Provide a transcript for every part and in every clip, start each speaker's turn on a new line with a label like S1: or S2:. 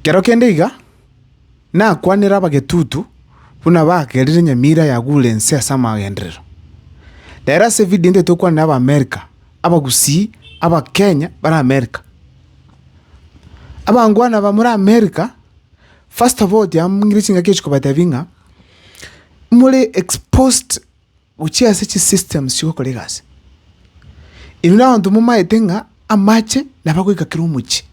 S1: Kero kende iga nakwanera abagetutu buna bagerire enyamira yagure ense ase amagenderero. Rero ase evidio ende tokwanera Abaamerika, Abagusii, Abakenya bare Amerika. Abangwana aba more Amerika, first of all tiamanyire chingaki echikobatebia ng'a more exposed gochia ase chisystems chigokora egasi. Inwe na abanto momaete ng'a amache nabo agoika kera omochie.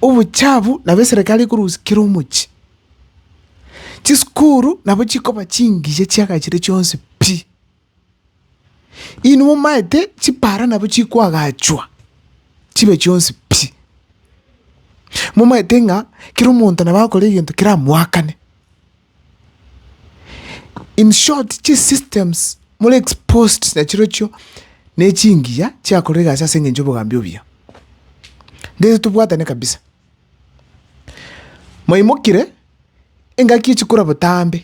S1: Obochafu nabo eserekari ekorusia kera omochie. Chisukuru nabo chikoba chingiya chiagachire chionsi pi. Inwe momaete chipara nabo chikoagachwa chibe chionsi pi! Momaete ng'a kera omonto nabo akore egento keramoakane. In short, chisystems more exposed nachirochio na echingiya chiakorire egasi ase eng'encho y'obogambi obuya. Ndeto tobwatane kabisa. Mwaimokire, engaki echikorwa botambe.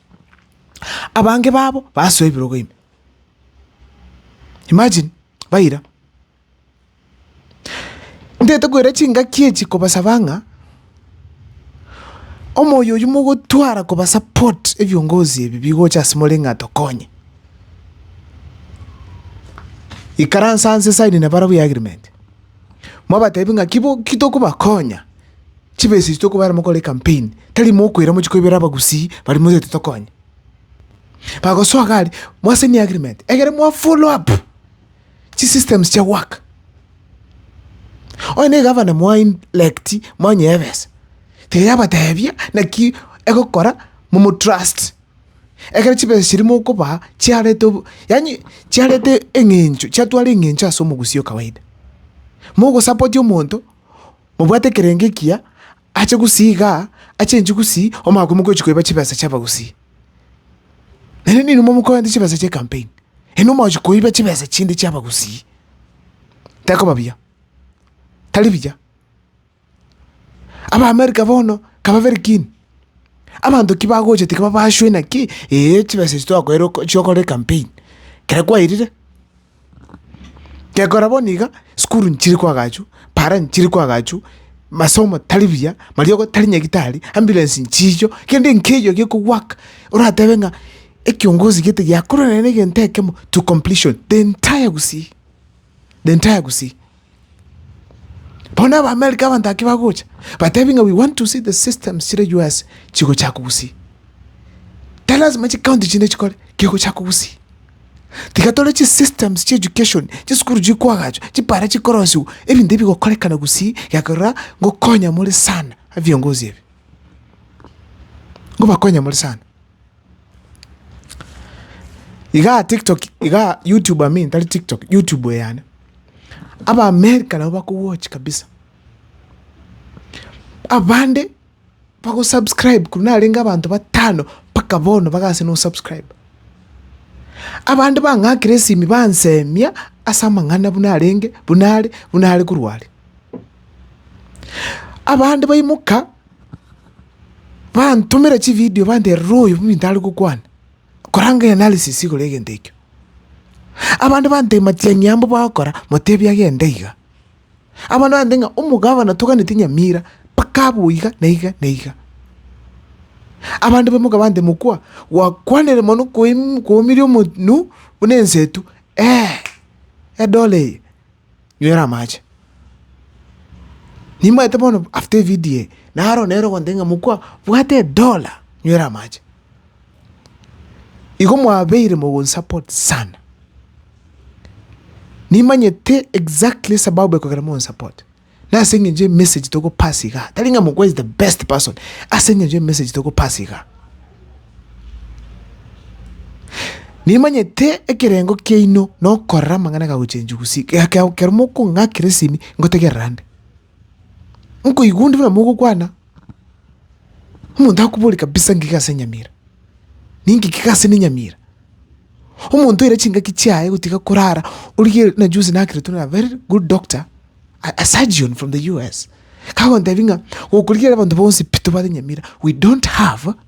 S1: Abange babo basoa ebirogo ime. Imagine, baira. Ntaete koira chingaki echi kobasaba ng'a, omoyo oyio mogotwara kobasupport ebiongozi ebi bigocha ase more ng'a tokonye. Ikaransa nse sign nabarabwo y'agreement. mwabatebi ng'a ki bo- ki tokobakonya, chibesa echi tokobera mokore ecampaign, tari mokoira mochie koibera abagusii baria motagete tokonye. Bagosoa iga aria, mwasenie agreement, egere mwa follow up chisystems chia goaka. Onye na egavana mwaelcti, mwanyea ebesa, tiga yabatebia naki egokora, momotrust. ekero chibesa chiria mokobaa chiarete obo, yaani chiarete eng'encho, chiatwara eng'encho ase omogusii o kawaida. Mogosapoti omonto, mobwate ekerengo ekiya, ache gusii igaa, achenchie gusii, omanye koimoka ochi koiba chibesa chia abagusii. Naende ninwe momokorente chibesa chia ecampaign, yaani omanye gochia koiba chibesa chinde chia abagusii, tekoba buya, tari buya. Abaamerika bono kaba very keen, abanto ki bagocha tiga babashwe naki ee chibesa echi twakoeire oko chiokore ecampaign, kera kwairire. Gekora bono iga, sukuru nchire koagachwa, para nchire koagachwa, masomo tari buya, mariogo tari nyagitari, ambulance nchiicho, kende nkeiyo gekogwaka, oratebe ng'a ekiongozi gete giakorire nere egento ekemo to completion, the entire Gusii, the entire Gusii. Bono Abaamerika abanto ake bagocha batebi ng'a we want to see the systems chire US chigochaka kogusia. Tilasima chicounty chinde chikore, kegochaka kogusia. Tiga tore chisystems chia education, chisukuru chikoagachwa, chipara chikorosiwa, ebinto ebi bigokorekana gusii ekeroraa ngokonya more sana abiongozi ebi, ngobakonya more sana. Igaa tiktok igaa youtube I mean tari tiktok youtube eyane, abaamerika nabo bakowochi kabisa, abande bagosubscribe korwa narenge abanto batano mpaka bono bagase na osubscribe, abande bang'akire esimi bansemia ase amang'ana buna arenge buna are buna are korwa are. Abande baimoka. bantomera chividio bandera rora oyo ominto are gokwana, koranga analysis igoro y'egento ekio. Abande bantebia matiang'i aya mbogokora motebie agende iga, abande bantebia ng'a omogabana toganeti nyamira mpaka abe oiga na iga na iga. Abande baimoka bantebia mokwa gwakwanire mono koim- kwaumirie omonto buna ensetu eeh edore eye. Nywera amache. Nimanyete bono after evidio eye, naro nere ogoteba ng'a mokwa bwate edola, nywera amache. Igo mwabeire mogonsapot sana. Nimanyete exactly esababu ekogera mogonsapot, na ase eng'encho emessage togopass igaa, tari ng'a mokwa is the best person, ase eng'encho emessage togopass igaa. Nimanyete ekerengo kiaino na okorora amang'ana agagochenchwa gose ekero mokong'akera esini ngotegerera nde. Nkoigwa onde buna mogokwana, omonto akobore kabisa ng'ika ase nyamira, ning'ika iga ase ne nyamira. Omonto oira chingaki chiaye gotiga korara origereiri buna juzi nakererwa na very good doctor, a surgeon from the US, kagontebia ng'a gokorigereria abanto bonsi pi tobwate nyamira, we don't have.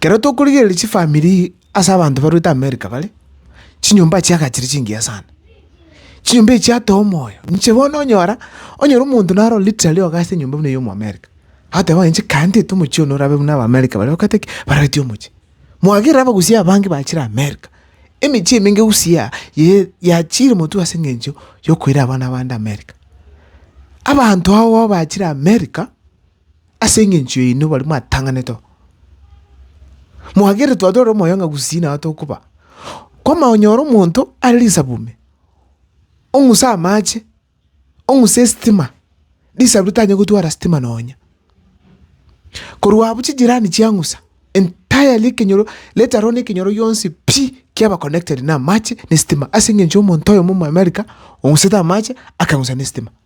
S1: Kero tokorigereria chifamiri ase abanto barwete America bare, chinyomba echi chiaga chiri chingiya sana. Chinyomba echi chiatoa omoyo, inche bono onyora, onyore omonto naro literally oga ase enyomba buna eyi ya omoamerica, agoteba ng'a inche kae ntete omochie one orabe buna abaamerika baria bagoteba ki? Barabeti omochie. Mwagerire abagusia abange bachire America, emechie emenge gusii ye yachire motwe ase eng'encho yokoira abana bande America. Abanto agho bachire America. Ase engencho yaino baria mwatang'anete oo, mwageretwe atware omoyo ng'a gusii nao tokoba. Kwamanya onyore omonto are risabu ime, ong'use amache, ong'use esitima, risabu ritanyare gotwara sitima nonya. Korwa abwo chijirani chiang'usa, entirely ekenyoro let alone ekenyoro gionsi pi, kiaba connected na amache na esitima ase engencho ya omonto oyomo omo America, ong'usete amache akang'usa na esitima.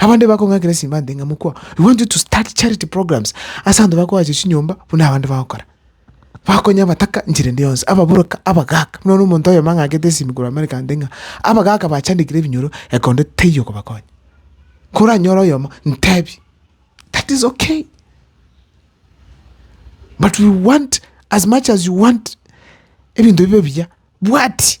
S1: Abande bakong'akera simbante ng'a mokwa, we want you to start charity programs ase abanto bakoacha chinyomba buna abande bagokora. Bakonya abataka nchera ende yonsi, ababoroka, abagaka. Buna bono omonto oyomo ang'akete esimi korwa America ante ng'a abagaka bachandekire ebinyoro ekonde teiyo okobakonya. Koranyore oyomo, ntebi, that is okay. But we want as much as you want ebinto bibe ebiya, bwati.